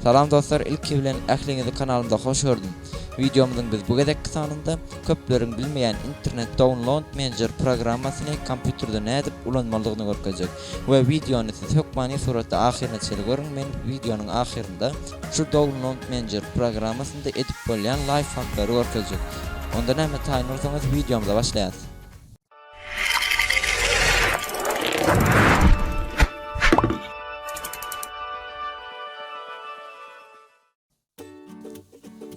Salam dostlar ilki bilen ähliňizi kanalymda hoş gördüm. Wideomyzyň biz bu gezekki sanynda köpleriň bilmeýän internet download manager programmasyny kompýuterde nädip ulanmalydygyny görkezjek we wideony siz hökmany suratda ahyryna çenli görüň men wideonyň ahyrynda şu download manager programmasynda edip bolýan laýfhaklary görkezjek onda näme taýyn bolsaňyz wideomyza başlaýas.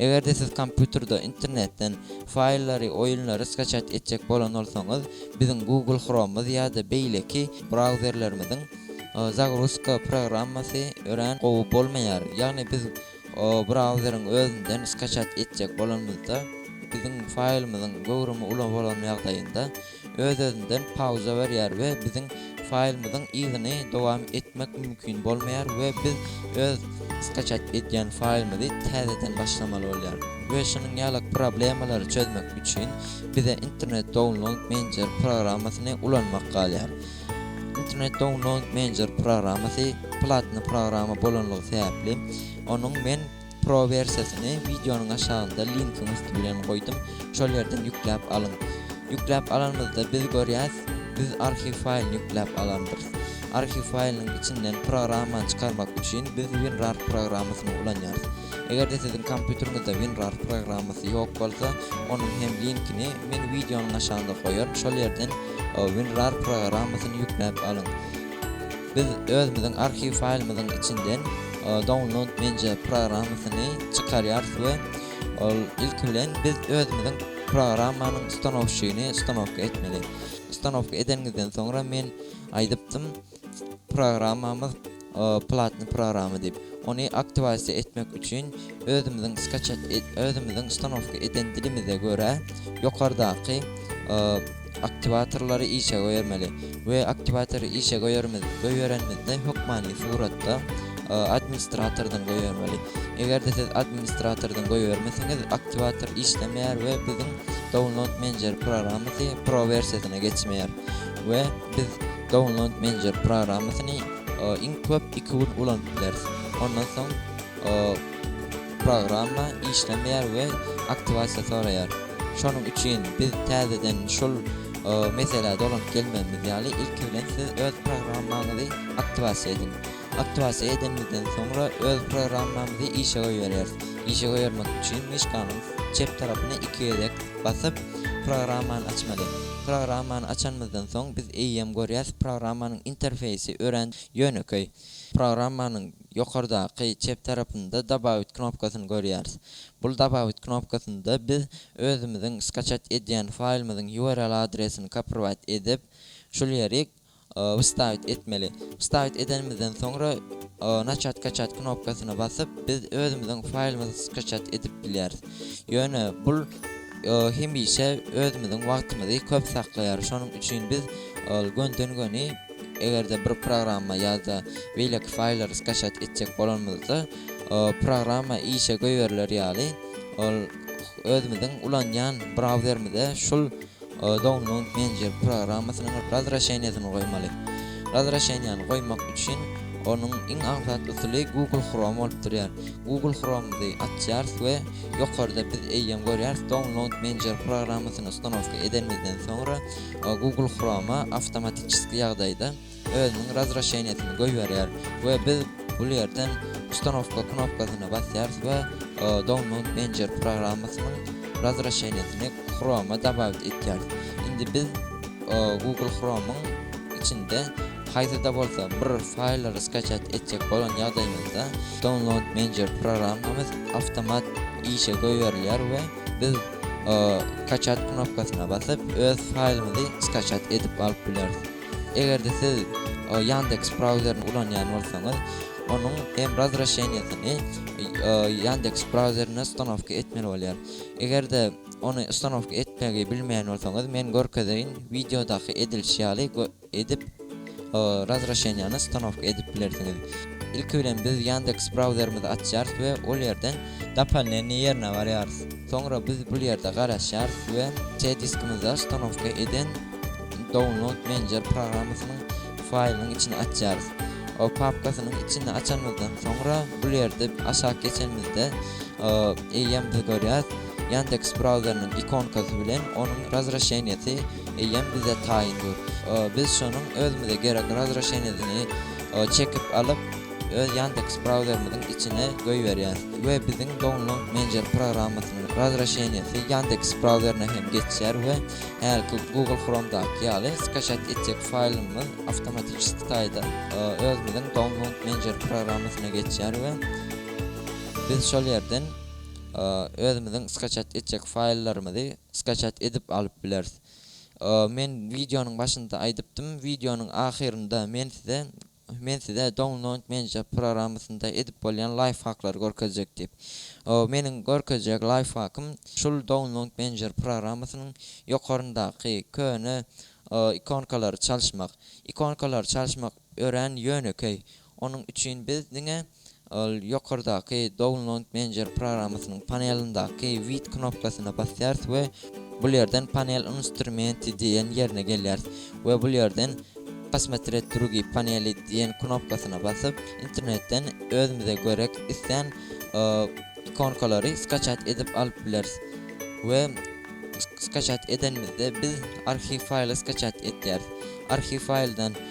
Eger-de siz kompýuterde internetden faýllary, oýunlary skaçat etjek bolan bolsaňyz, biziň Google Chrome-myz ýa-da beýleki brauzerlerimiziň zagruzka programmasy örän gowy bolmaýar. Ýagny biz O brauzeriň özünden skaçat etjek bolanymyzda, biziň faýlymyzyň göwrümi uly bolan ýagdaýynda, öz-özünden pauza berýär we biziň faýlymyzyň yzyny dowam etmek mümkin bolmaýar we biz öz skaçat edýän faýlymyzy täzeden başlamaly bolýar. We şunuň ýaly problemalary çözmek üçin bize Internet Download Manager programmasyny ulanmak galýar. Internet Download Manager programmasy platny programma bolanlygy sebäpli, onuň men Pro wersiýasyny wideonyň aşagynda linkiň üsti bilen goýdum, şol ýerden ýükläp alyň. Ýükläp alanymyzda biz görýäs, biz arhiw faýlyny ýükläp alandyrys. Arhiw faýlynyň içinden programmany çykarmak üçin biz WinRAR programmasyny ulanýarys. Eger-de siziň kompýuteriňizde WinRAR programmasy ýok bolsa, onuň hem linkini men wideonyň aşagynda goýaryn, şol ýerden WinRAR programmasyny ýükläp alyň. Biz özümiziň arhiw faýlymyzyň içinden Download Manja programmasyny çykarýarys we ol ilki bilen biz özümiziň programmanyň stanowşyny stanowka etmeli. Stanowka edeniňizden soňra men aýdypdym. Programmamyz platny programma diýip, ony aktiwasiýa etmek üçin özümiziň skaçat özümiziň ustanowka eden dilimize görä ýokardaky aktiwatorlary işe goýermeli we aktiwatory işe goýermiz goýberenimizde hökmany suratda administratordan goýbermeli. Eger-de siz administratordan goýbermesiňiz aktiwator işlemeýär we biziň download menjer programmasy pro wersiýasyna geçmeýär we biz Download Manager programmasyny iň köp iki gün ulanyp bileris. Ondan soň programma işlemeýär we aktiwasiýa soraýar. Şonuň üçin biz täzeden şol meselä dolanyp gelmezimiz ýaly, ilki bilen siz öz programmaňyzy aktiwasiýa ediň. Aktiwasiýa edenimizden soňra öz programmamyzy işe goýberýäris. Işe goýbermek üçin myşkanyň çep tarapyna iki gezek basyp, programmany açmaly. Programmany açanymyzdan soň biz eýýäm görýäs, programmanyň interfeýsi örän ýönekeý. Programmanyň ýokardaky çep tarapynda Dobawit knopkasyny görýäris. Bu Dobawit knopkasynda biz özümiziň skaçat edýän faýlymyzyň URL adresini kopirwat edip, şul ýeri Wstavit etmeli. Wstavit edenimizden soňra Nachat kaçat knopkasyna basyp, biz özümiziň faýlymyzy skaçat edip bilýäris. Ýöne bul hemişe özümiziň wagtymyzy köp saklaýar. Şonuň üçin biz ol gönden-göni eger-de bir programma ýa-da beýleki faýllary skaçat etjek bolanymyzda, programma işe goýberiler ýaly, ol özümiziň ulanýan brauzerimize şul Download Manager programmasynyň razwraşeniýasyny goýmaly. Razwraşeniýany goýmak üçin onuň iň aňsat usuly Google Chrome bolup durýar. Google Chrome-y açýarys we ýokarda biz eýýäm görýäris Download Manager programmasyny ustanowka edenimizden soňra Google Chrome-a awtomatiçeski ýagdaýda özüniň razwrasheniýesini goýberýär we biz bul ýerden Ustanowka knopkasyna basýarys we Download Manager programmasynyň razwrasheniýesini Chrome-a dabawit etýäris. Indi biz Google Chrome-yň içinde haýsy-da bolsa bir faýllary skaçat etjek bolan ýagdaýymyzda Download Manager programmamyz awtomat işe goýberilýär we biz Skaçat knopkasyna basyp öz faýlymyzy skaçat edip alyp bileris. Eger-de siz Yandex brauzerini ulanýan bolsaňyz, onuň hem razraşeniýasyny Yandex brauzerine ustanowka etmeli bolýar. Eger-de ony ustanowka etmegi bilmeýän bolsaňyz, men görkezeýin, wideodaky edilişi ýaly edip razraşeniýany ustanowka edip bilersiňiz. Ilki bilen biz Yandex brauzerimizi açýarys we ol ýerden. Dopolneniýe ýerine barýarys. Soňra biz bul ýerde garaşýarys we C diskimizde ustanowka eden. Download Manager programmasynyň faýlynyň içini açýarys. O papkasynyň içini açanymyzdan soňra bul ýerde aşak geçenimizde eýýäm biz görýäs Yandex brauzerynyň ikonkasy bilen onuň razrešeniýesi eýýäm bize taýyn dur. Biz şonuň özümize gerek razrešeniýesini çekip alyp öz Yandex brauzerimiziň içine goýberýäs we biziň Download Manager programmasynyň razrešeniýesi Yandex brauzerine hem geçýär we Hälki Google Chromedaky ýaly skaçat etjek faýlymyz awtomatiçeski taýda özümiziň Download Manager programmasyna geçýär we biz şol ýerden özümiziň skaçat etjek faýllarymyzy skaçat edip alyp bileris. Men wideonyň başynda aýdypdym, wideonyň ahyrynda men size Men size Download Manager programmasynda edip bolýan laýfhaklary görkezjek diýip. Meniň görkezjek laýfhakym şul Download Manager programmasynyň ýokaryndaky köne ikonkalary çalyşmak. Ikonkalary çalyşmak örän ýönekeý. Onuň üçin biz diňe. Ol ýokardaky Download Manager programmasynyň panelindaky With knopkasyna basýarys we bul ýerden Panel Instrumenti diýen ýerine gelýäris we bul ýerden Posmotrett drugi paneli diýen knopkasyna basyp, internetden özümize görek islän ikonkalary skaçat edip alyp bileris we skaçat edenimizde biz arhiw faýly skaçat etýäris. Arhiw faýldan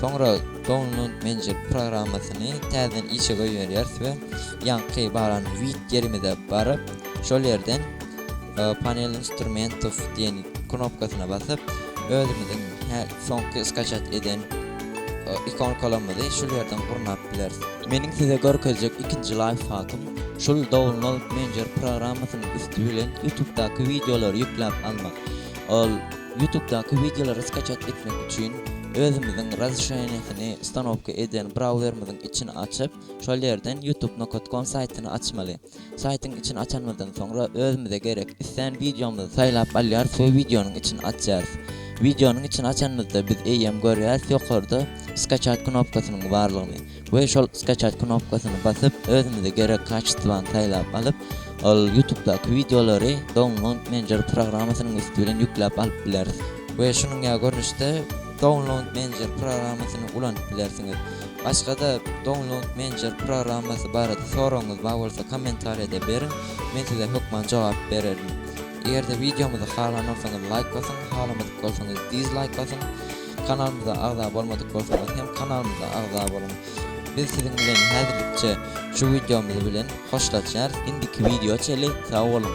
Soňra Download Manager programmasyny täzeden işe goýberýäris we ýaňky baran With ýerimize baryp, şol ýerden Panel instrumentów diýen knopkasyna basyp, özümiziň soňky skaçat eden ikonkalarymyzy şul ýerden gurnap bileris. Meniň size görkezjek ikinji laýfhakym, şul Download Manager programmasynyň üsti bilen YouTube-daky wideolary ýükläp almak. Ol. Ýutubdaky wideolary skaçat etmek üçin özümiziň razreşeniýesini ustanowka eden brauzerimiziň içini açyp, şol ýerden youtubenokat.com saýtyny açmaly. Saýtyň içini açanymyzdan soňra özümize gerek islän wideomyzy saýlap alýarys we wideonyň içini açýarys. Wideonyň içini açanymyzda biz eýýäm görýäris ýokarda skaçat knopkasynyň barlygyny. We şol skaçat knopkasyny basyp özümize gerek kaçestwany saýlap alyp ol ýutubdaky wideolary download menjer programmasynyň üsti bilen ýükläp alyp bileris. We şunuň ýaly görnüşde download menjer programmasyny ulanyp bilersiňiz. Başgada download menjer programmasy barada soragyňyz bar bolsa kommentariýada beriň men size hökman jogap bererin. Egerde wideomyzy halan bolsaňyz laýk basyň halamadyk bolsaňyz dizlaýk basyň. Kanalymyza agza bolmadyk bolsaňyz hem kanalymyza agza boluň. Biz siziň bilen häzirlikçe şu wideomyz bilen hoşlaşýarys. Indiki wideo çenli sag boluň.